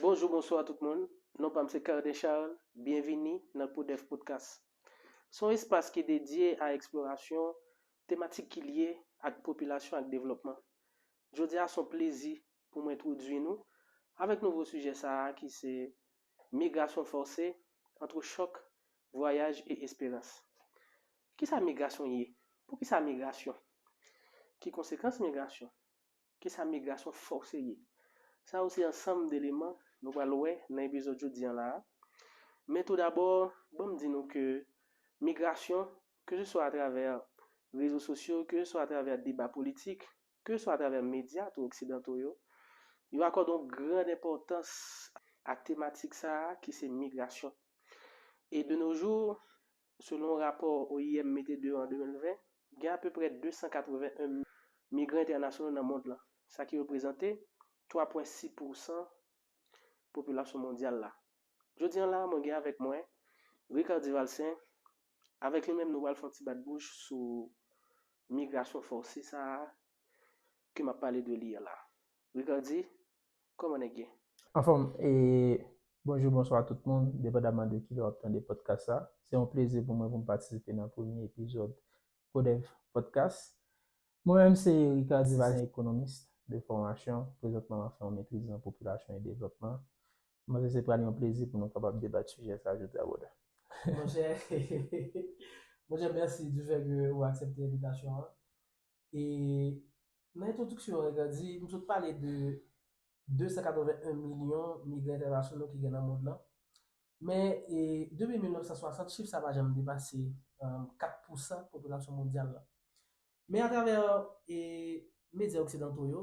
Bonjou bonswa tout moun, non pam se Carden Charles, byenvini nan Podef Podcast. Se yon espas ki dedye a eksplorasyon tematik ki lye ak popilasyon ak devlòpman. Jodi a se yon plezi pou mwen entwodui nou avèk nouvo sijè sa a ki se Migrasyon fòse, antre chòk, vwayaj e esperans. Kisa migrasyon ye? Poukisa migrasyon? Ki konsekans migrasyon? Kisa migrasyon fòse ye? Sa yo se ansanm deleman nou pral wè nan epizòd jodi an la a. Men toudabò, ban m di nou ke migrasyon, keseswa atravè rezo sosyo, keseswa atravè deba politik, keseswa atravè medya tou oksidanto yo, yo akòde yon gran enpòtans a tematik sa a ki se migrasyon. E de no jou, Selon yon rapò oim mete deyò an 2020, gen apeprè 281 migran entènasyonal nan mond lan, sa ki reprezante 3,6 pousan popilasyon mondyal la. Jodi an la a mwen gen avèk mwen Ricard Duvalsaint, avèk li menm nou pral fè yon ti bat bouch sou migrasyon fòse sa a ke m ap pale de li an la. Ricardy, Koman nèg ye? Anfòm e Bonjou bonswa tout moun depandaman de kilè wap tande podcast sa se yon plezi pou mwen pou m patisipe nan premye epizòd Codev podcast mwen menm se Ricard Divalin ekonomist de fòmasyon prezantman map fè yon metriz nan popilasyon e devlòpman m panse se pral yon plezi pou nou kapab debat sijè sa jodi a brother. Monchè Monchè mèsi du fè ke ou aksèpte envitasyon an E nan entwodiksyon an Edgar di nou sot pale de 281 milyon migran entènasyonal ki gen nan mond lan. Men e depi 1960 chif sa pa janm depase 4 pousan popilasyon mondyal la. Men atravè e medya oksidanto yo,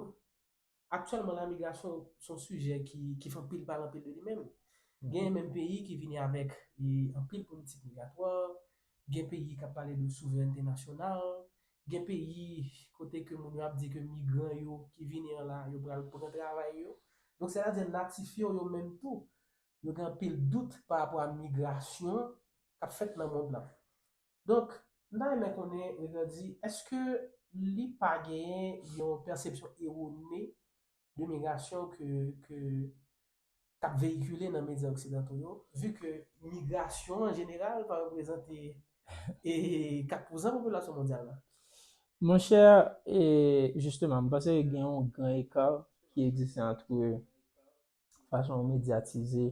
Aktyèlman la migrasyon se yon sijè ki fè anpil pale anpil de li menm. Gen menm peyi ki vini avèk anpil politik migratwa, gen peyi k ap pale de souvrènte nasyonal, gen peyi kote ke moun yo ap di ke migran yo ki vini an la yo pral pran travay yo. Donk sè ta di natif yo yo menm tou yo gen anpil dout pa rapò a migrasyon k ap fèt nan mond lan. Donk, m ta renmen konnen, M. Grandy, èske li pa genyen yon pèsepsyon ewone de migrasyon ke, ke, k ap veyikile nan medya oksidanto yo, vi ke migrasyon an jeneral pa reprezante e 4 pouzan popilasyon mondyal la? Mon chè, e, jisteman, m panse gen yon gran ekar ki egziste antre fason ou medyatize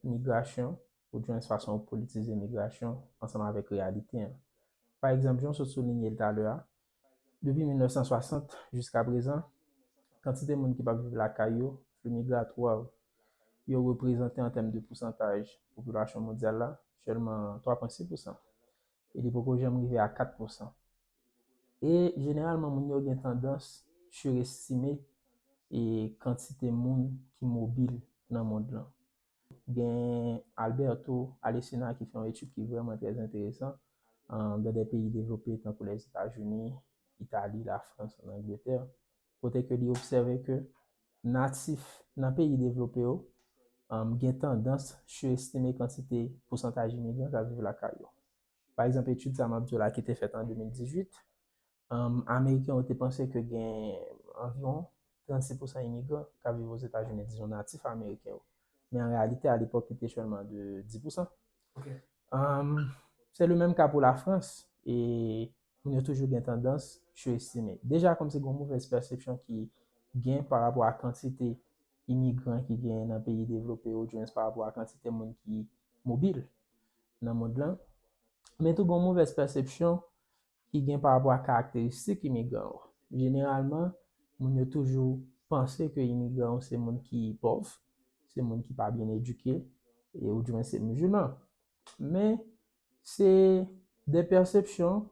migrasyon, ou djwenn fason ou politize migrasyon ansanm avèk reyalite an. Pa egzanp, jan w sot soulinye l talè a, depi 1960 jiska prezan, kantite moun ki pa p viv lakay yo, flux migratoire, yo reprezante an tèm de pousantaj popilasyon mondyal la sèlman 3,6 pousan. e li poko janm rive a 4 pousan. E jeneralman moun yo gen tandans surestime e kantite moun ki mobil nan mond lan. Gen Alberto Alesina ki fè yon etid ki vrèman trè enteresan an dan dè peyi devlope tankou Lèzetazini, Itali, Lafrans, an Angletè, kote ke li obsève ke natif nan peyi devlope yo gen tandans surestime kantite pousantaj imigran k ap viv lakay yo. Pa egzanp, etid sa m ap di w la ki te fèt an 2018, ameriken yo te panse ke gen anviwon 36 pousan imigran k ap viv Ozetazini, dizon natif ameriken yo. Men an reyalite, alepòk, li te sèlman de 10 pousan. Se lemenm ka pou Lafrans e moun yo toujou gen tandans surestime. Deja kòm se gon movèz pèsepsyon ki gen pa rapò a kantite imigran ki genyen nan peyi devlope yo odyens pa rapò a kantite moun ki mobil nan mond lan, men tou gon movèz pèsepsyon ki gen pa rapò a karakteristik imigran yo. Jeneralman, moun yo toujou panse ke imigran yo se moun ki pòv, se moun ki pa byen edike, e odyens se musulman. Men, Se de pèsepsyon,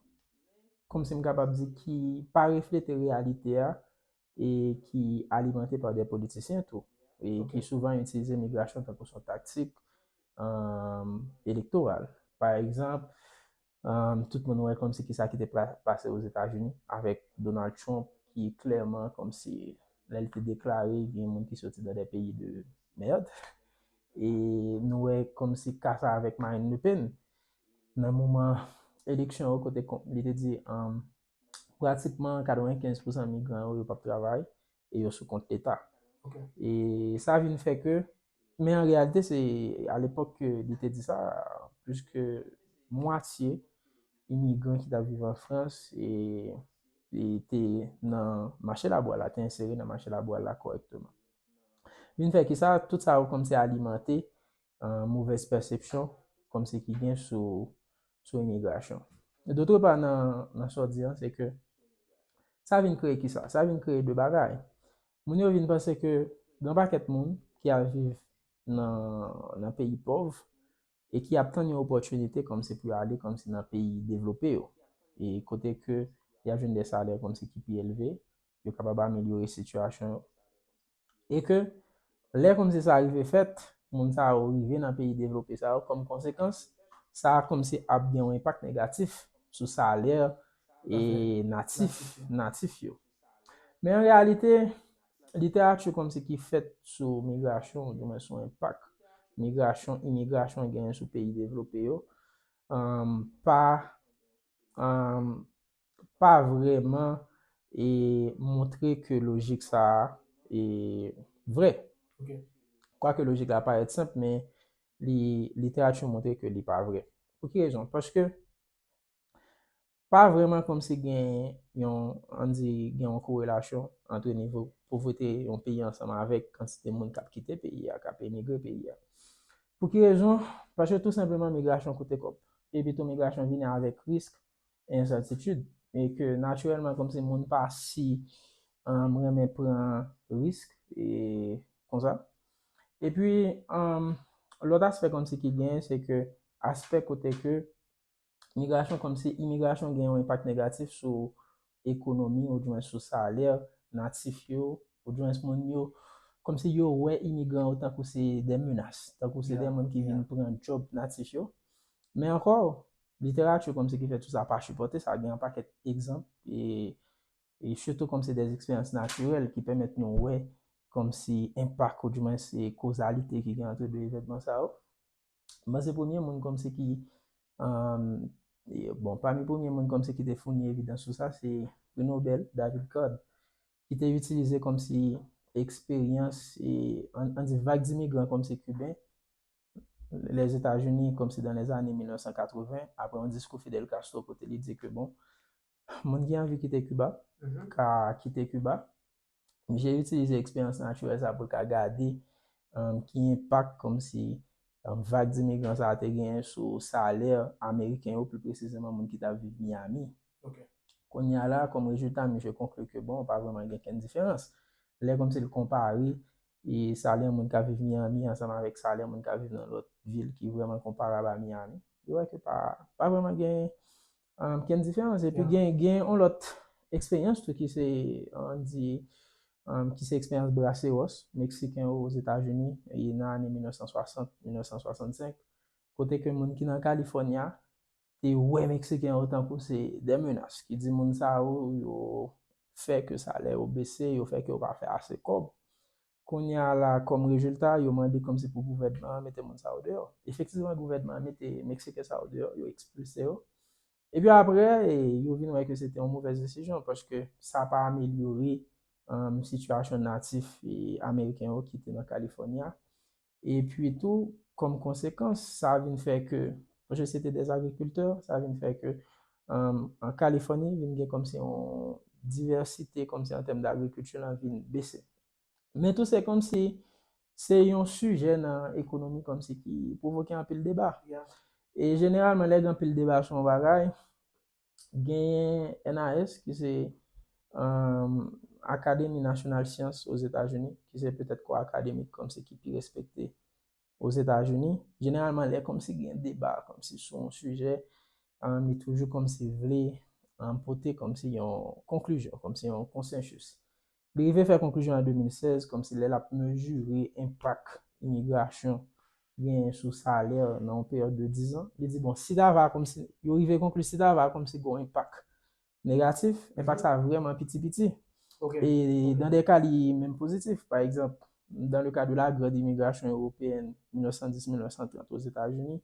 kòm si m kapab di, ki pa reflete reyalite a e ki alimante pa de politisyen tou. E ki souvan itilize migrasyon tankou son taktik elektoral. Pa egzanp, tout moun wè kòm si ki sa ki te pase o Zetazini avèk Donald Trump ki klèman kòm si lè li te deklare gen moun ki soti nan de peyi de mèrd. E nou wè komsi ka sa avèk Marine Le Pen, nan moman eleksyon yo kote li te di pratikman 95 pousan migran yo, yo pap travay e yo sou kont leta. E sa vin fè ke, men an reyalite se a lepòk ke li te di sa, plis ke mwatye imigran ki tap viv an Frans e te nan mache labwa la, te ensere nan mache labwa la kòrèkteman. Vin fè kisa? Tout sa yo kòmsi alimante movèz pèsepsyon kòmsi ki gen sou imigrasyon. Dotre pa nan sa w di an, se ke sa vin kreye kisa? Sa vin kreye de bagay. Moun yo vin panse ke gen yon pakèt moun ki al viv nan peyi pòv, e ki ap tann yon opòtinite kòmsi pou yo ale kòmsi nan peyi devlope yo, e kote ke y ap jwenn de salè kòmsi ki pi elve, yo kapab amelyore sitiyasyon yo. E ke lè kòmsi sa rive fèt, moun sa yo rive nan peyi devlope sa yo, kòm konsekans, sa kòmsi ap gen yon enpak negatif sou salè e natif, natif yo. Men an reyalite, literati kòmsi ki fèt sou migrasyon ou di mwen sou enpak migrasyon, imigrasyon genyen sou peyi devlope yo, pa pa vreman e montre ke lojik sa a e vre. Kwake lojik la parèt senp men li literati montre ke li pa vre. Pou ki rezon? Paske Pa vrèman kòmsi gen yon, ann di, gen yon korelasyon antre nivo povrete yon peyi ansanm avèk kantite moun k ap kite peyi a, k ap emigre peyi a. Pou ki rezon? Paske tou senpleman migrasyon koute kòb. Epi tou migrasyon vini avèk risk e ensètitid. E ke natirèlman kòmsi moun pa si renmen pran risk e konsa. Epi, lòt aspè kòmsi ki genyen se ke aspè kote ke Imigrasyon kòmsi imigrasyon gen yon enpak negatif sou ekonomi ou djwen sou salè natif yo ou djwen sou moun yo kòmsi yo wè imigran yo tankou se de menas, tankou se de moun ki vin pran djòb natif yo. Men ankò, literati kòmsi ki fè tout sa pa sipòte sa, gen yon pakèt egzanp e e sitou kòmsi de eksperyans natirèl ki pèmèt nou wè kòmsi enpak ou djwen se kozalite ki gen antre de evènman sa yo. M panse premye moun kòmsi ki, bon, pami premye moun kòmsi ki te founi evidans sou sa, se Pri Nobèl David Card, ki te itilize kòmsi eksperyans, an di vag dimigran kòmsi kiben, Lèzetazini kòmsi dan lèzane 1980, apre yon diskou Fidel Castro pote li di ke bon, Moun ki anvi kite Kiba ka kite Kiba. Misye itilize eksperyans natirèl sa pou l ka gade ki enpak kòmsi vag dimigran sa te genyen sou salè ameriken yo, pi presizeman moun ki t ap viv Miyami. Kounye a la, kòm rezilta, misye konkli ke bon, pa vrèman gen okenn diferans. Lè kòmsi l konpare salè moun k ap viv Miyami ansanm avèk salè moun k ap viv nan lòt vil ki vrèman konparab a Miyami, li wè ke pa vrèman gen Um, gen diferans. Epi Yeah. gen, gen on lòt eksperyans tou ki se, an di, um, ki se eksperyans braceros, Meksiken yo oz Etazini, e nan ane 1960, 1965, kote ke moun ki nan California te wè Meksiken yo tankou se de menas, ki di moun sa yo, yo fè ke salè yo bese, yo fè ke yo pa fè ase kòb. Kounye a la, kòm rezilta, yo mande kòm se pou gouvènman an mete moun sa yo deyò. Efektivman, gouvènman an mete Meksiken sa yo deyò, yo ekspilse yo. Epi apre, yo vin wè ke se te yon movèz desizyon, paske sa pa amelyore sitiyasyon natif Ameriken yo ki te nan Kalifòni a. E pwi tou, kòm konsekans, sa vin fè ke, paske se te dè agrikiltè, sa vin fè ke an Kalifòni vin gen kòm si yon divèsite kòm si an tèm d'agrikilti lan vin bese. Men tou se kòm si se yon sijè nan ekonomi kòm si ki pwovoke anpil deba. E jeneralman lè gen anpil deba sou yon bagay, Genyen NAS ki se Akademi Nasyonal Syans Ozetazini, ki se petèt kò akademik kòmsi ki pi respekte Ozetazini. Jeneralman lè kòmsi gen deba kòmsi sou yon sijè, li toujou kòmsi vle pote kòmsi yon konklizyon, kòmsi yon konsensis. Li rive fè konklizyon an 2016 kòmsi lè l ap mezire enpak imigrasyon genyen sou salè nan yon peryòd de dizan, li di bon si ta va kòmsi, yo rive konkli si ta va kòmsi gen yon enpak negatif, enpak sa vrèman piti piti. E dan de ka li menm pozitif. Pa egzanp, dan le ka de la grand imigrasyon ewopeyèn 1910-1930 Ozetazini,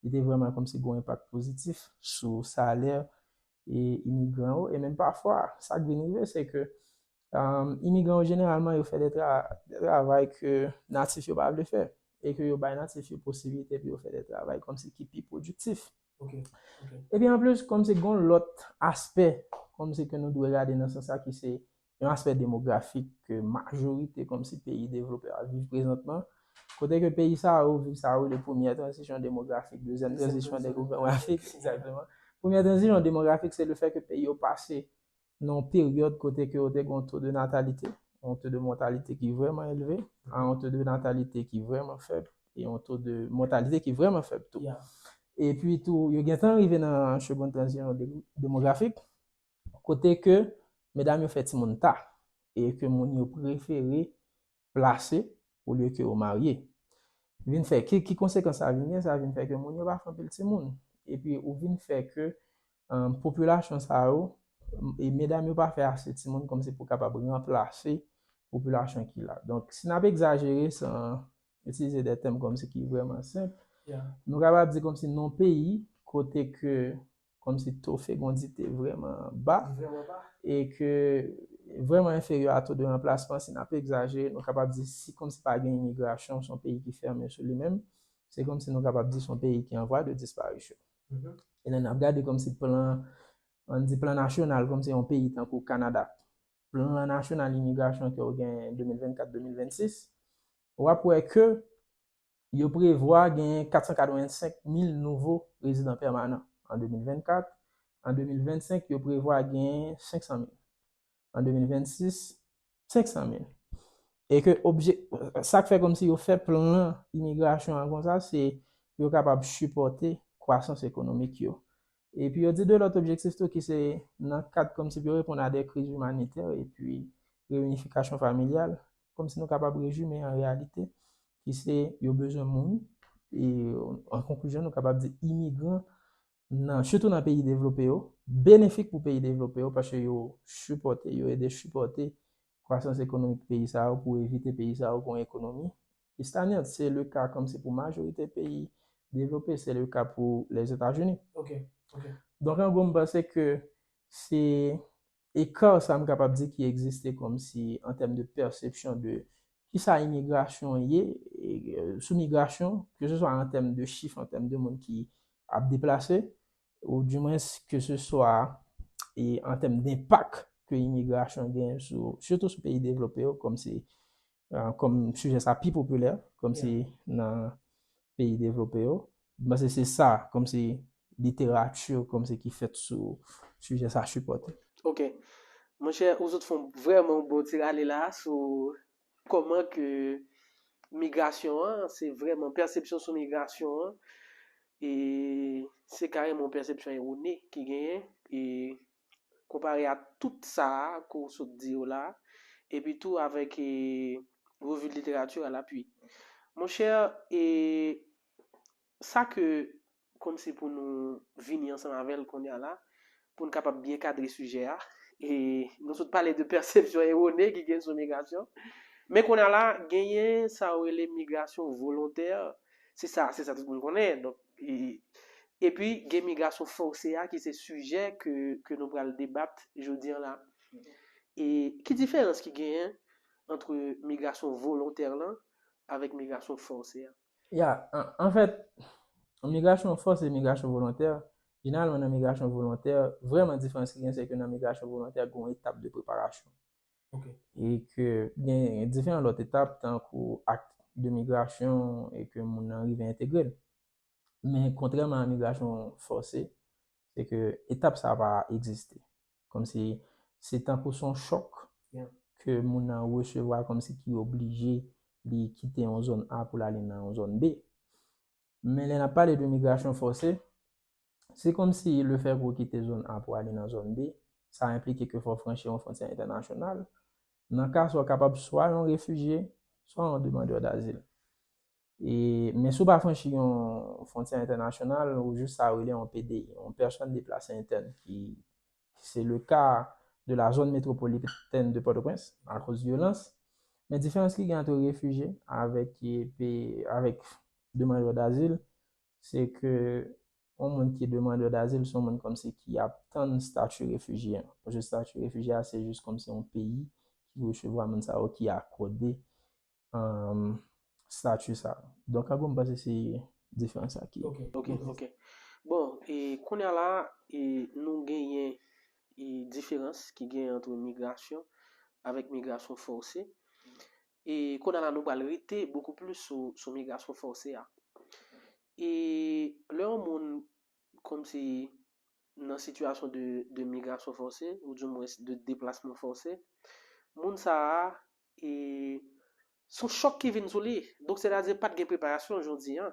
li te vrèman kòmsi gen yon enpak pozitif sou salè e imigran yo e menm pafwa sa k vin rive se ke imigran yo jeneralman yo fè de travay ke natif yo pa vle fè e ke yo bay natif yo posiblite pou yo fè de travay kòmsi ki pi pwodiktif. Epi anplis kòmsi gen yon lòt aspè kòmsi ke nou dwe gade nan sans sa ki se yon aspè demografik ke majorite kòmsi peyi devlopè ap viv prezantman, kote ke peyi sa yo viv sa yo rele premyè tranzisyon demografik, dezyèm tranzisyon demografik, egzakteman. Premyè tranzisyon demografik se le fè ke peyi yo pase nan yon peryòd kote ke yo te gen yon to de natalite, yon to de mòtalite ki vrèman elve, a yon to de natalite ki vrèman fèb, e yon to de mòtalite ki vrèman fèb tou. Epi tou, yo gentan rive nan segond tranzisyon demografik, Kote ke medam yo fè timoun ta, e ke moun yo prefere plase olye ke yo marye. Vin fè, ki konsekans sa vin gen? Sa vin fè ke moun yo pa fè anpil timoun. Epi ou vin fè ke popilasyon sa yo, e medam yo pa fè ase timoun kòm se pou kapab ranplase popilasyon ki la. Donk, si n ap egzajere san itilize de tèm kòm se ki vrèman senp, nou kapab di kòm si nan yon peyi kote ke kòm si to fegondi te vrèman ba, e ke vrèman enferyè a to de ranplasman, si n ap egzajere, nou kapab di si kòm si pa gen imigrasyon, son peyi ki fèmen sou li menm, se kòm si nou kapab di son peyi ki an vwa de disparisyon. E lè n ap gade kòm si plan, an di plan nasyonal, kòm si yon peyi tankou Kanada, plan nasyonal imigrasyon ke yo gen 2024-2026, w ap wè ke yo prevwa genyen 485 mil nouvo rezidan pèmanan an 2024, an 2025 yo prevwa genyen 500 mil, an 2026, 500 mil. E ke obje, sa k fè kòmsi yo fè plan imigrasyon an konsa se pou yo kapab sipòte kwasans ekonomik yo. E pi yo di de lòt objektif tou ki se nan kad kòmsi pou yo reponn a de kriz imanitè e pi reyinifikasyon familyal, kòmsi nou kapab rezime an reyalite ki se yo bezwen moun e an konklizyon nou kapab di imigran nan sitou nan peyi devlope yo benefik pou peyi devlope yo paske yo sipòte, yo ede sipòte kwasans ekonomik peyi sa yo pou evite peyi sa yo gon ekonomi ki stagnant se le ka kòmsi pou majorite peyi devlope se le ka pou Lèzetazini donk an gwo m panse ke se eka sa m kapab di ki egziste kòmsi an tèm de pèsepsyon de kisa imigrasyon ye sou migrasyon ke se swa an tèm de chif an tèm de moun ki ap deplase ou di mwens ke se swa e an tèm denpak ke imigrasyon gen sou, sitou sou peyi devlope yo, kòm se, kòm sijè sa pi popilè, kòm se nan peyi devlope yo, m panse se sa, kòm se literati, kòm se ki fèt sou sijè sa sipòte. Ok. Monchè, ou sot fon vrèman yon bon ti rale la sou Kòman ke migrasyon an, se vrèman pèsepsyon sou migrasyon an, e se karèman yon pèsepsyon ewone ki genyen, e konpare a tout sa a ke w sot di yo la a, epi tou avèk Revue de Littérature à l'appui. Monchè, e Sa ke kòmsi pou nou vini ansanm avè l kounye a la, pou n kapab byen kadre sijè a, e nou sot pale de pèsepsyon ewone ki gen sou migrasyon. Men kounye a la, genyen sa yo rele migrasyon volontè, se sa, se sa tout moun konnen, donk, epi gen migrasyon fòse a ki se sijè ke, ke nou pral debat jodi an la. E ki diferans ki genyen antre migrasyon volontè lan avèk migrasyon fòse an? Ya, anfèt, migrasyon fòse, migrasyon volontè, jeneralman nan migrasyon volontè, vrèman diferans ki gen se ke nan migrasyon volontè gen yon etap de preparasyon. Ok. E ke gen diferan lòt etap tankou akt de migrasyon e ke moun nan rive entegre l. Men kontrèman a migrasyon fòse, se ke etap sa pa egziste. Kòm si se tankou son chòk ke moun nan resevwa kòm si ki oblije li kite yon zòn A pou l ale nan yon zòn B. Men lè n ap pale de migrasyon fòse, se kòm si le fè ke w kite zòn A pou ale nan zòn B, sa enplike ke fò w franchi yon fwontyè entènasyonal. Nan ka sa w kapab swa yon refijye, swa yon demandè dazil. E, men si w pa franchi yon fwontyè entènasyonal, ou jis sa yo rele yon PDI, yon Personne Déplacée Interne, ki se le ka de la zone métropolitaine de Port-au-Prince, akoz vyolans. Men diferans ki gen antre refijye avèk avèk demandè dazil, se ke yon moun ki demandè dazil se yon moun kòmsi ki ap tann stati refijye an. Paske stati refijye a se jis kòmsi yon peyi ki resevwa moun sa yo, ki akòde statut sa. Donk ago m panse se diferans sa ki. Ok, ok, ok. Bon, e kounye a la, e nou genyen e diferans ki genyen antre migrasyon avèk migrasyon fòse. E kounye a la nou pral rete bokou plis sou sou migrasyon fòse a. E lè yon moun kòmsi nan sitiyasyon de de migrasyon fòse ou di mwens de deplasman fòse, moun sa a E son chòk ki vin sou li. Donk sètadi pat gen preparasyon jodi an.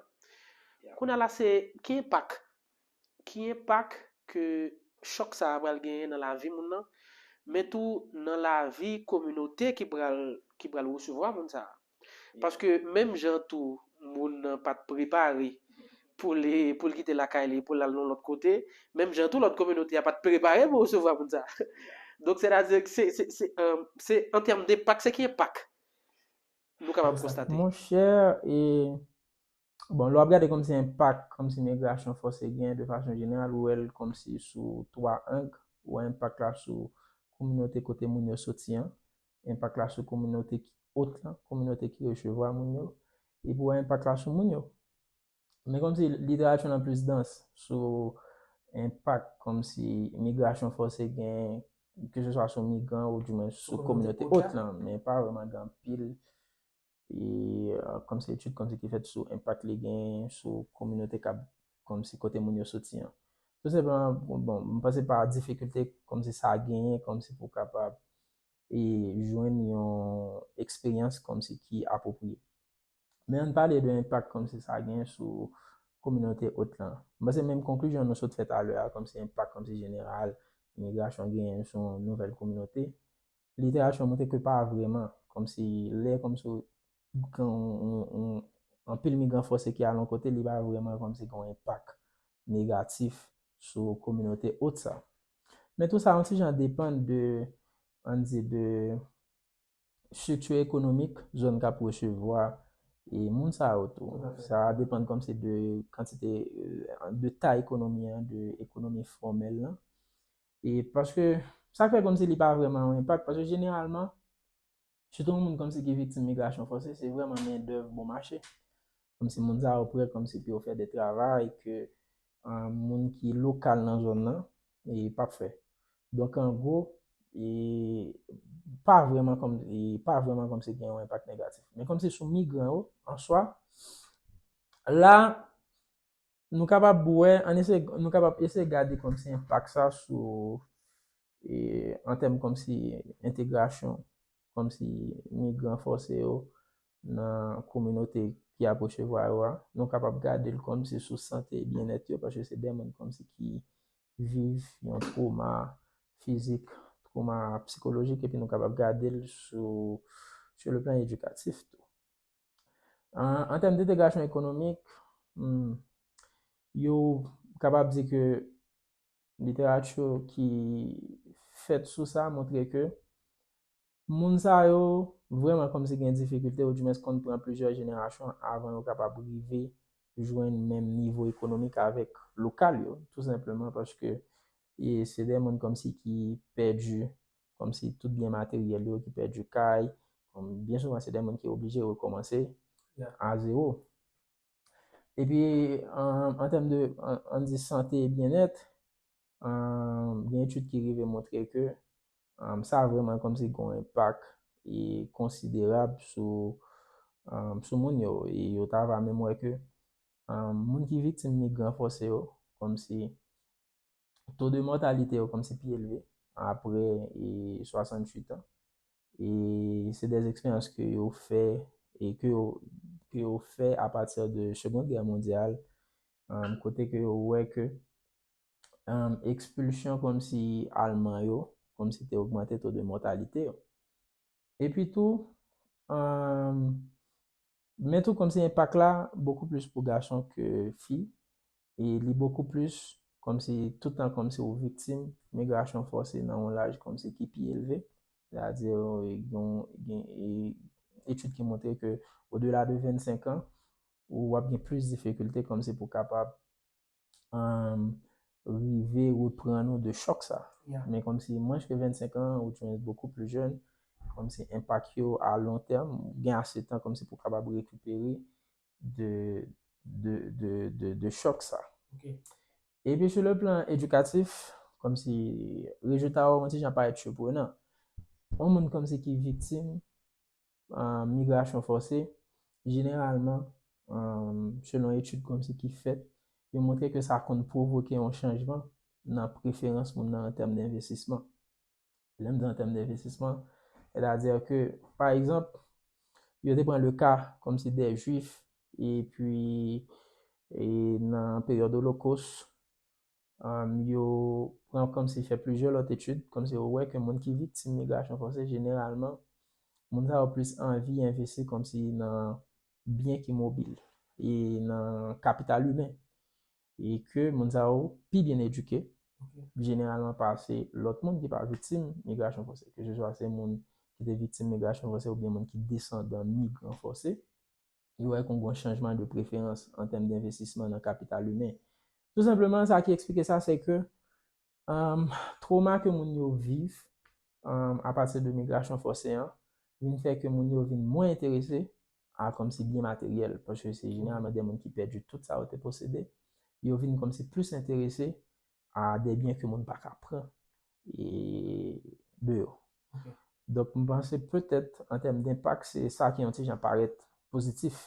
Kounye a la se ki enpak, ki enpak ke chòk sa a pral genyen nan lavi moun nan, men tou nan lavi kominote ki pral, ki pral resevwa moun sa a. Paske menm jan tou moun nan pat prepare pou li, pou li kite lakay li, pou l al yon lòt kote, menm jan tou lòt kominote a pa t prepare pou resevwa moun sa a. Donk sètadi ke se, se, se, se an tèm denpak, se ki enpak nou kapab konstate? Monchè, e, bon, lè w ap gade kòmsi enpak, kòmsi migrasyon fòse gen de fason jeneral, ou wè l kòmsi sou twa ang, ou wè enpak la sou kominote kote moun yo soti an, enpak la sou kominote ki ot lan, kominote ki resevwa moun yo, epi wè enpak la sou moun yo. Men kòm si literati lan plis dans sou enpak kòm si migrasyon fòse gen, ke se swa sou migran ou di mwen sou kominote ot lan, men pa vreman gen anpil. e kòm se etid kòm se ki fèt sou enpak li gen sou kominote kab kòm se kote moun yo soti an. Tou senpleman, bon, m panse pa difikilte kòm se sa genyen kòm se pou kapab e jwenn yon eksperyans kòm se ki apwopriye. Men an n pale de enpak kòm se sa genyen sou kominote ot lan. M panse menm konklizyon nou sot fè talè a kòm se enpak kòm se jeneral imigrasyon genyen sou yon nouvèl kominote, Literati an montre ke pa vreman. Kòm si lè kòm si gen yon anpil migran fòse ki al yon kote li pa vreman kòm si gen yon enpak negatif sou kominote ot sa. Men tou sa yon ti jan depann de, ann di de strikti ekonomik zòn k ap resevwa e moun sa yo tou. Sa depann kòm si de kantite, de tay ekonomi an, de ekonomi fòmèl lan. E paske, sa k fè kòmsi li pa vrèman yon enpak, paske jeneralman, sitou moun kòmsi ki viktim migrasyon fòse, se vrèman mendèv bon mache. Kòmsi moun sa yo prè kòmsi pou yo fè de travay ke moun ki lokal nan zòn nan pa p fè. Donk an gwo, e pa vrèman kòm, e pa vrèman kòmsi gen yon enpak negatif. Men kòmsi sou migran yo, an swa, la, Nou kapab wè, an eseye, nou kapab eseye gade kòmsi enpak sa sou, e, an tèm kòmsi entegrasyon, kòmsi migran fòse yo nan kominote ki ap resevwa yo a. Nou kapab gade l kòmsi sou sante e byennèt yo, paske se de moun kòmsi ki viv yon twoma fizik, twoma psikolojik epi nou kapab gade l sou, sou le plan edikatif tou. An tèm detegrasyon ekonomik, hmm, yo kapab di ke literati ki fèt sou sa montre ke moun sa yo vreman kòm si gen difikilte ou di mens konn pran plizyè jenerasyon avan yo kapab rive jwenn menm nivo ekonomik avèk lokal yo. Tou senpleman paske e se de moun kòm si ki pèdi kòm si tout byen materyèl yo ki pèdi kay, kòm byen souvan se de moun ki oblije rekòmanse a zewo. Epi an tèm de an di sante e byennèt, gen etid ki rive montre ke sa vreman kòm si gon enpak e konsiderab sou moun yo. E yo ta va menm wè ke moun ki viktim migran fòse yo kòm si to de mòtalite yo kòmsi pi elve apre 68 an. E se de eksperyans ke yo fè e ke yo ke yo fè a pati de Seconde Guerre Mondiale kote ke yo wè ke ekspilsyon kòmsi alman yo kòmsi te ogmante to de mòtalite yo. Epi tou, men tou kòmsi enpak la bokou plis pou gason ke fi, e li bokou plis kòmsi tout tan kòmsi ou viktim migrasyon fòse nan yon laj kòmsi ki pi elve. Se a di gen etid ki montre ke odela de 25 an, ou ap gen plis difikilte kòmsi pou kapab rive repran nou de chòk sa. Men kòm si mwen chke 25 an, ou chke bokou pli jèn, kòm si enpak yo a lon tèm, gen ase tan kòm si pou kapab rekipere de chòk sa. E pi sou le plan edikatif, kòm si rezilta yo yon ti jan parèt siprenan. Yon moun kòm si ki viktim, migrasyon fòse, jeneralman, selon etid kòmsi ki fèt, yo montre ke sa konn pwovoke yon chanjman nan preferans moun nan an tèm denvestisman. Lè m di an tèm denvestisman, sètadi ke, pa egzanp, yo te pran le ka kòmsi dè jwif epi nan peryòd olokos, um, yo pran kòmsi fè plizyè lòt etid, kòmsi yo wè ke moun ki viktim migrasyon fòse jeneralman moun sa yo plis anvi envesti kòmsi nan byen ki mobil e nan kapital imen e ke moun sa yo pi byen edike jeneralman pase lòt moun ki pa viktim migrasyon fòse, keseswa se moun ki te viktim migrasyon fòse oubyen moun ki desandan migran fòse. Li wè kon gon chanjman de preferans an tèm denvestisman nan kapital imen. Tou senpleman sa ki eksplike sa se ke twoma ke moun yo viv a pati de migrasyon fòse an vin fè ke moun yo vin mwen enterese a kòmsi byen materyèl paske se jeneralman de moun ki pèdi tout sa yo te posede. Yo vin kòmsi plis enterese a de byen ke moun pa ka pran e de yo. Donk m panse petèt an tèm denpak se sa ki yon ti jan parèt pozitif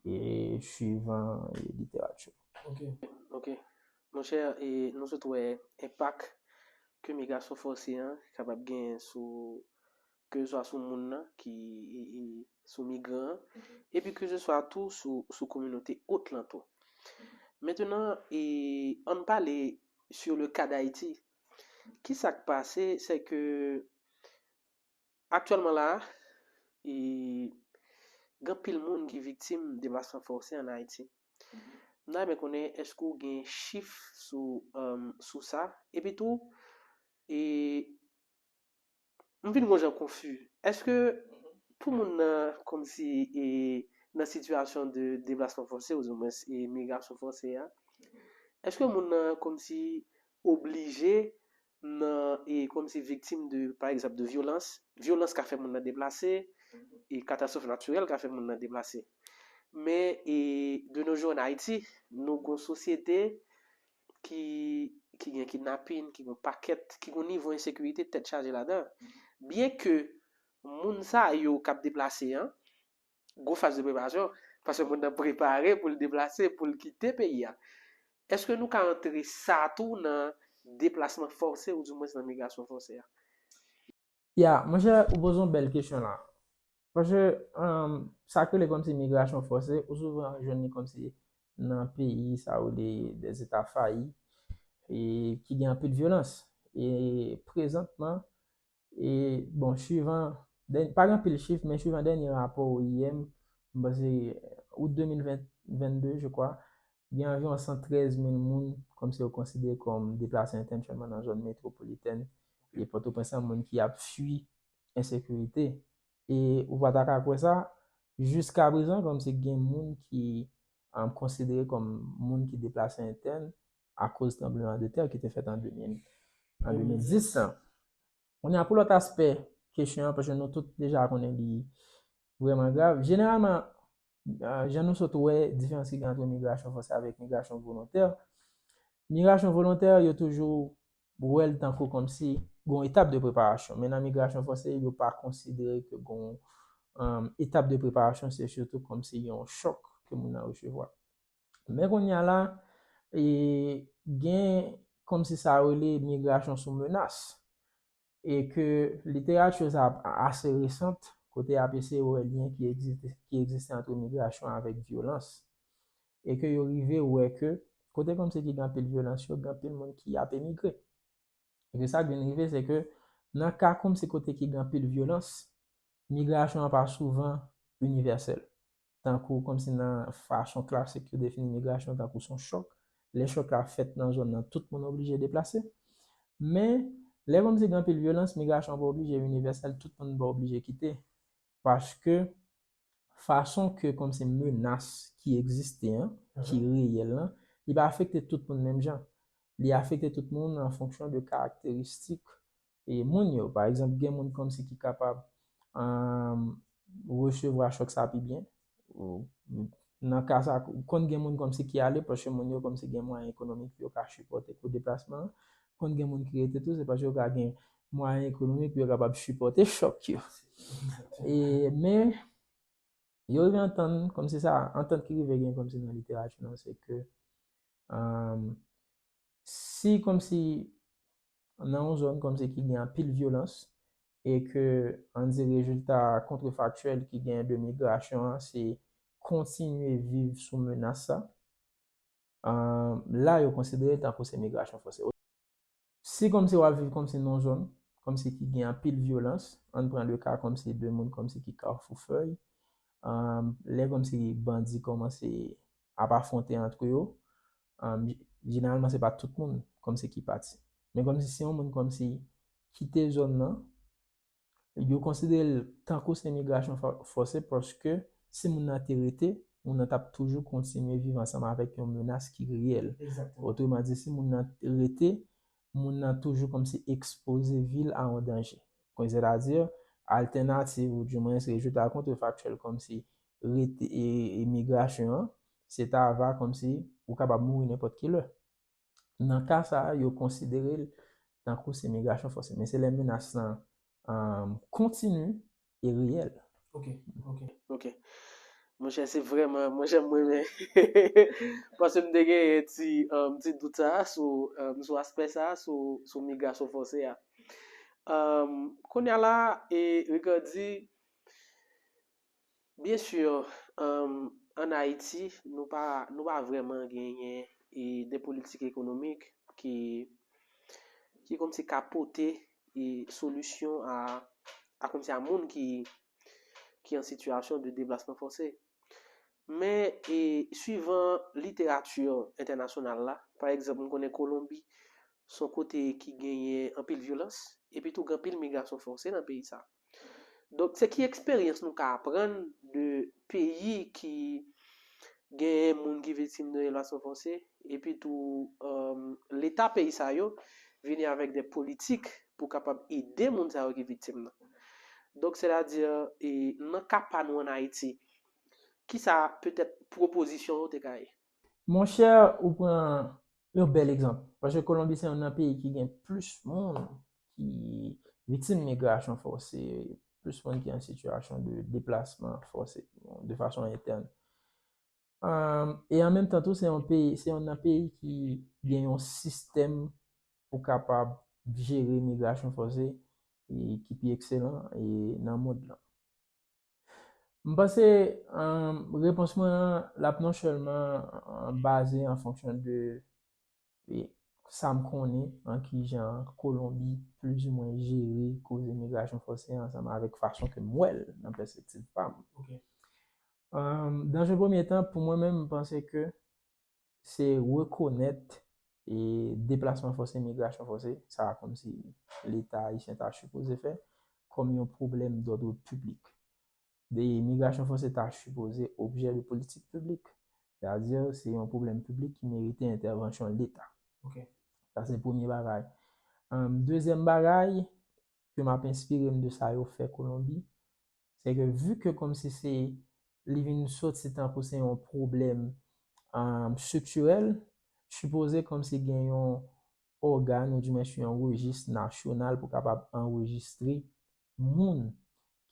e suivan literati yo. Ok, ok. Monchè, e nou sot wè enpak ke migrasyon fòse an kapab genyen sou Kezeswa sou moun nan ki sou migran an, epi kezeswa tou sou kominote ot lan tou. Mentenan, an n pale sur le ka d'Ayiti. Ki sa k pase, se ke aktyèlman la a, gen anpil moun ki viktim deplasman fòse an Ayiti. M ta renmen konnen èske ou gen chif sou sa? Epi tou, M vin gon jan konfu. Eske pou moun nan komsi e nan sitiyasyon de deplasman fòse oudiwens e migrasyon fòse a, eske moun nan komsi oblije nan e komsi viktim de pa egzanp de vyolans, vyolans ka fè moun nan deplase, e katastrof natirèl ka fè moun nan deplase. Men e de no jou an Ayiti, nou gon sosyete. ki ki gen kidnapin, ki gen yon pakèt, ki gen yon nivo ensekirite tèt chaje ladan. Byen ke moun sa yo k ap deplase an, gwo faz de preparasyon, paske moun nan prepare pou l deplase, pou l kite peyi a. Èske nou ka antre sa tou nan deplasman fòse ou di mwens nan migrasyon fòse a? Ya, monchè ou poze yon bèl kesyon la. Paske sa ki rele kòmsi migrasyon fòse, ou souvan jwenn li kòmsi nan peyi sa yo rele dè zeta fayi e ki gen anpil vyolans. E prezantman, e bon swivan, pa gen anpil chif men swivan dènye rapò IOM, m panse out 2022 je kwa, gen anviwon 113 mil moun kòm se yo konsidere kòm deplase entansyonman nan zòn metwopolitèn e Pòtoprens lan, moun ki ap fui ensekirite. E ou pa ta ka kwè sa, jiskaprezan kòm se gen moun ki konsidere kòm moun ki deplase entèn akoz tranbleman de tè ki te fèt an 2010 lan. Kounye a pou lòt aspè kesyon an, paske nou tout deja konnen li vrèman grav, jeneralman jan nou sot wè diferans ki gen antre migrasyon fòse avèk migrasyon volontè, migrasyon volontè yo toujou wèl tankou kòm si gon etap de preparasyon, men nan migrasyon fòse yo pa konsidere ke gon etap de preparasyon se sitou kòm si yon chòk ke moun nan resevwa. Men kounye a la, gen kòm si sa rele migrasyon sou menas. e ke literati yo sa ap ase resant, kote y ap eseye wè lyen ki egziste ki egziste antre migrasyon avèk vyolans, e ke yo rive wè ke kote kòmsi ki gen anpil vyolans yo, gen anpil moun ki ap emigre. E ke sa k vin rive se ke nan ka kòmsi kote ki gen anpil vyolans, Migrasyon an pa souvan inivèsèl, tankou kòmsi nan fason klasik yo defini migrasyon tankou son chòk, lè chòk la fèt nan zòn nan tout moun oblije deplase. Men, lè kòmsi gen anpil vyolans, migrasyon an pa oblije inivèsèl, tout moun pa oblije kite, paske fason ke kòmsi menas ki egziste an, ki reyèl lan, li pa afekte tout moun menm jan. Li afekte tout moun an fonksyon de karakteristik e moun yo. Pa egzanp, gen moun kòmsi ki kapab resevwa chòk sa pi byen. Nan ka sa, konn gen moun kòmsi ki ale paske moun yo kòmsi gen mwayen ekonomik yo ka sipòte kou deplasman an. Konn gen moun ki rete tou se paske yo ka gen mwayen ekonomik pou yo kapab sipòte chòk yo. E men, yo rive antann kòmsi sa, antant ki rive gen kòmsi nan literati nou se ke si kòmsi nan yon zòn kòmsi ki gen anpil vyolans e ke an di rezilta kontrefaktyèl ki genyen de migrasyon an se kontinye viv sou menas sa, la yo konsidere l tankou se migrasyon fòse. Si kòmsi w ap viv kòmsi nan yon zòn kòmsi ki gen anpil vyolans, ann pran le ka kòmsi de moun kòmsi ki Kafou Fèy, lè kòmsi bandi kòmanse ap afwonte antre yo, Jeneralman se pa tout moun kòmsi ki pati. Men kòmsi se yon moun kòmsi kite zòn nan, yo konsidere l tankou se migrasyon fòse paske si moun nan te rete, moun nan t ap toujou kontinye viv ansanm avèk yon menas ki reyèl. Otreman di, si moun nan rete, moun nan toujou kòmsi ekspoze vi l a yon danje. Sètadi, altènativ ou dimwens rejeta kontrefaktiyèl kòmsi rete e migrasyon an, Se ta va kòmsi ou kapab mouri nenpòt ki lè. Nan ka sa a, yo konsidere l tankou se migrasyon fòse. Men se lè menas lan kontini e reyèl. Ok. Ok. Ok. Monchè, se vrèman, mwen janm renmen. Paske m te genyen ti, ti dout sa a sou, sou aspè sa a, sou, sou migrasyon fòse a. Kounya la, Ricardy, Bien sûr en Ayiti nou pa nou pa vrèman genyen e de politik ekonomik ki ki kòmsi ka pote e solisyon a a kòmsi a moun ki ki an sitiyasyon de deplasman fòse. Men e swivan literati entènasyonal la, pa egzanp nou konnen Kolonbi son kote ki genyen anpil vyolans epitou gen anpil migrasyon fòse nan peyi sa a. Donk se ki eksperyans nou ka aprann de peyi ki genyen moun ki viktim de relasyon fòse epi tou leta peyi sa yo vini avèk de politik pou kapab ede moun sa yo ki viktim nan. Donk sètadi nan ka pa nou an Ayiti ki sa petèt pwopozisyon ou te ka ye? Mon chè ou pran yon bèl egzanp paske Kolonbi se yon nan peyi ki gen plis moun. ki viktim migrasyon fòse, plis moun ki an sitiyasyon de deplasman fòse, de fason entèn. E an menm tan tou, se yon peyi, se yon nan peyi ki gen yon sistèm pou kapab jere migrasyon fòse ki pi ekselan nan mond lan. M panse repons mwen an, l ap non sèlman baze an fonksyon de e sa m konnen an kijan Kolonbi plizimwen jere koze migrasyon fòse an ansanm avèk fason ke m wè l nan pèspektiv pa m. Dans un premye tan, pou mwen menm, m panse ke se rekonèt e deplasman fòse, migrasyon fòse, sa kòmsi Leta ayisyen ta sipoze fè, kòm yon pwoblèm dòdre piblik. de imigrasyon fòse ta sipoze objè de politik piblik, sètadi se yon pwoblèm piblik ki merite entèvansyon Leta. Ok. Sa se premye bagay. Dezyèm bagay, ke m ap enspire m de sa yo fè Kolonbi, se ke vu ke kòmsi se li vin soti tankou se yon pwoblèm estriktirèl, sipoze kòmsi gen yon ògàn ou dimensi yon rejis nasyonal pou kapab anrejistre moun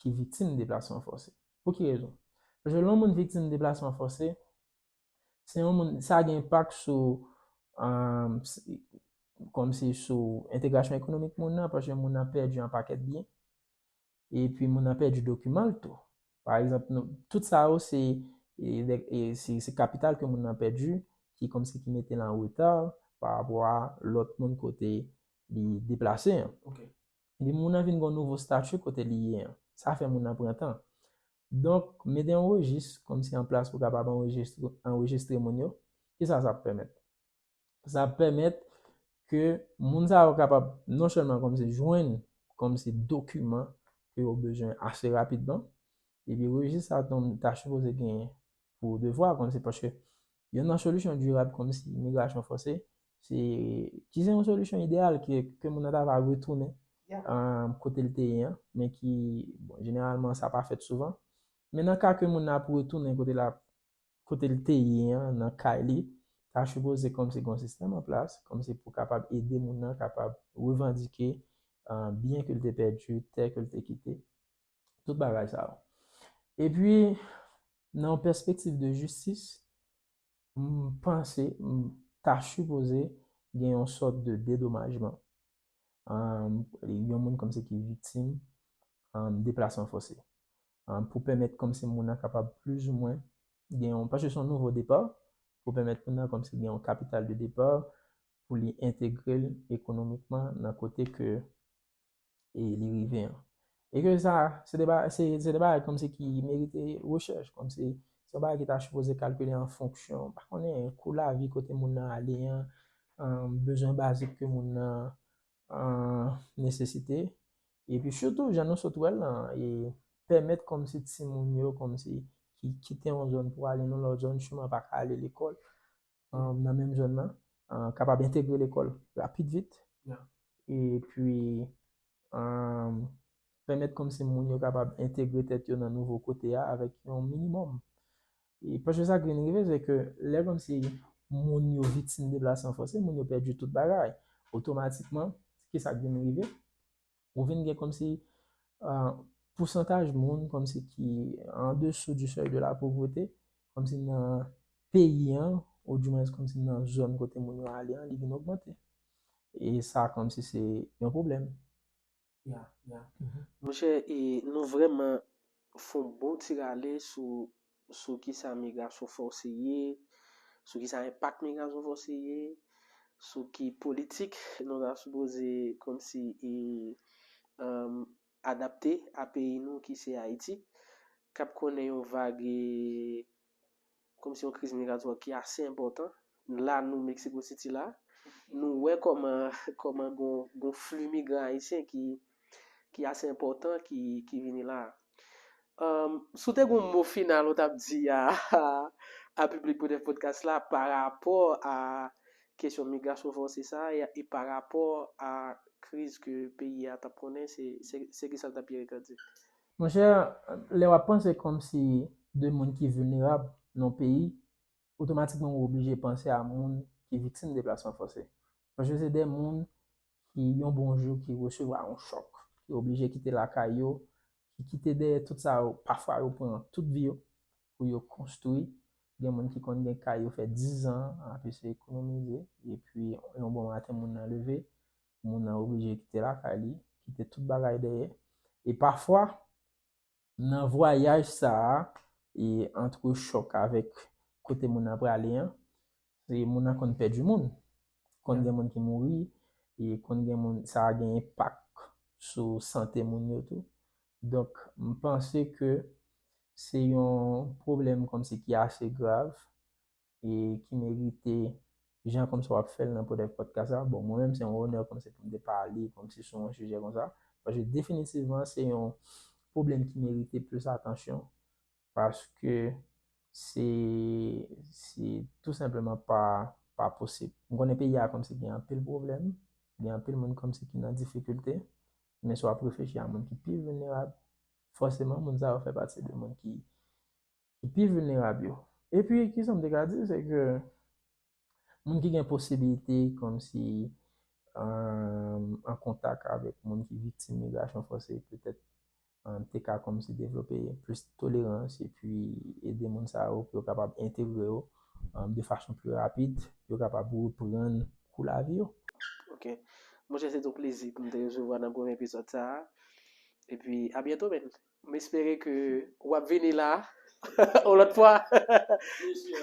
ki viktim deplasman fòse. Pou ki rezon? Paske lè yon moun viktim deplasman fòse, se yon moun, sa gen enpak sou, um, kòm se sou entegrasyon ekonomik moun nan, paske moun nan pèdi yon pakèt byen, epi moun nan pèdi dokiman l tou. Pa egzanp, tout sa yo se, se kapital ke moun nan pèdi, ki kòm se ki mete l an reta, pa rapò a lòt moun kote li deplase an. Ok. Epi moun nan vin gon nouvo statu kote li ye an. Sa fè moun nan pran tan. Donk, mete yon rejis kòm si an plas pou kapab anrejistre moun yo. Ki sa sa ap pèmèt? Sa ap pèmèt ke moun sa yo kapab non sèlman kòm si jwenn kòm si dokiman ke yo bezwen ase rapidman. Epi rejis sa tonm ta sipoze gen pou devwa kòm si paske Youn nan solisyon dirab kòmsi migrasyon fòse, se ki se yon solisyon ideyal ke moun nan ta va retounen kote l te ye an, men ki, bon, jeneralman sa pa fèt souvan. Men nan ka ke moun nan ap retounen kote l ap, kote l te ye an, nan kay li, sa sipoze kòmsi gon sistèm an plas, kòmsi pou kapab ede moun nan kapab revandike byen ke l te pèdi, tè ke l te kite. Tout bagay sa yo. E pi, nan yon pèspektif de jistis, m panse, m ta sipoze gen yon sòt de dedomajman. Yon moun kòm se ki viktim deplasman fòse. Pou pèmèt kòm se moun nan kapab plis ou mwen gen yon, paske se yon nouvo depa, pou pèmèt moun nan kòm se gen yon kapital de depa pou li entegre l ekonomikman nan kote ke e li rive an. E ke sa, se de bagay, se de bagay kòm se ki merite rechèch, kòm se, se yon bagay ki ta sipoze kalkile an fonksyon, pa konnen kou lavi kote moun nan ale an, bezwen bazik ke moun nan nesesite. E pi sitou, jan nou sot wèl lan, e pèmèt kòm se timoun yo, kòm se ki kite yon zòn pou ale nan lòt zòn, siman pa ka ale lekòl, nan menm zòn nan kapab entegre lekòl rapid vit epi pèmèt kòm se moun yo kapab entegre tèt yo nan nouvo kote a avèk yon minimòm. E pòch de sa ki vin rive se ke lè kòm se moun yo viktim deplasman fòse, moun yo pèdi tout bagay. Otomatikman, ki sa ki vin rive? Ou vin gen kòmsi pousantaj moun kòmsi ki an dessous du seuil de la pauvreté, kòmsi nan peyi an, ou di mwens kòmsi nan zòn kote moun yo ale an, li vin ogmante. E sa kòmsi se yon pwoblèm. Ya, ya. Monchè, e nou vrèman fon bon ti rale sou sou kisa migrasyon fòse ye, sou kisa enpak migrasyon fòse ye, sou ki politik nou ta sipoze kòmsi adapte a peyi nou ki se Ayiti, k ap konnen yon vag kòmsi yon kriz migratwa ki ase enpòtan. Nou la nou Mexico City la, nou wè kòman kòman gon gon fli migran ayisyen ki ki ase enpòtan ki ki vini la. Um, si w te gon mo final ou tap di a a piblik Bref Podcast la pa rapò a kesyon migrasyon fòse sa a e pa rapò a kriz ke peyi a tap konnen se se se kisa l tap ye Ricardy di? Monchè, lè wap panse kòmsi de moun ki vilnerab nan yon peyi otomatikman ou oblije panse a moun ki viktim deplasman fòse. Paske se de moun ki yon bon jou ki resevwa yon chòk, ki oblije kite lakay yo, ki kite dèyè tout sa yo, pafwa yo pran tout vi yo pou yo konstwi. Gen moun ki konn gen kay yo fè dizan ap eseye ekonomize, epi yon bon maten moun nan leve, moun nan oblije kite lakay li, kite tout bagay dèyè. E pafwa, Nan vwayaj sa a, e antre chòk avèk kote moun nan prale an, e moun nan konn pèdi moun. Konn gen moun ki mouri, e konn gen moun, sa a gen enpak sou sante moun yo tou. Donk, m panse ke se yon pwoblèm kòmsi ki ase grav, e ki merite jan kòm sa w ap fè l nan podèk pòdkas la. Bon, mwen menm se yon onè kòm se pou m te pale kòm se sou yon sijè kon sa. Paske definitivman se yon pwoblèm ki merite plis atansyon. Paske se se tou senpleman pa pa posib. M konnen peyi a kòm se gen anpil pwoblèm, gen anpil moun kòm se ki nan difikilte. Men si w ap reflechi a moun ki pi vilnerab, fòseman moun sa yo fè pati de moun ki ki pi vilnerab yo. Epi, ki sa m te ka di, se ke moun ki gen posibilite kòmsi an kontak avèk moun ki viktim migrasyon fòse petèt te ka kòmsi devlope plis tolerans epi ede moun sa yo pou yo kapab entegre yo de fason pi rapid pou yo kapab reprann kou lavi yo. Ok. Monchè, se te yon plezi pou m te resevwa w nan premye epizòd sa a. Epi, abyento menn. M espere ke ou ap vini la yon lòt fwa. Bien sûr.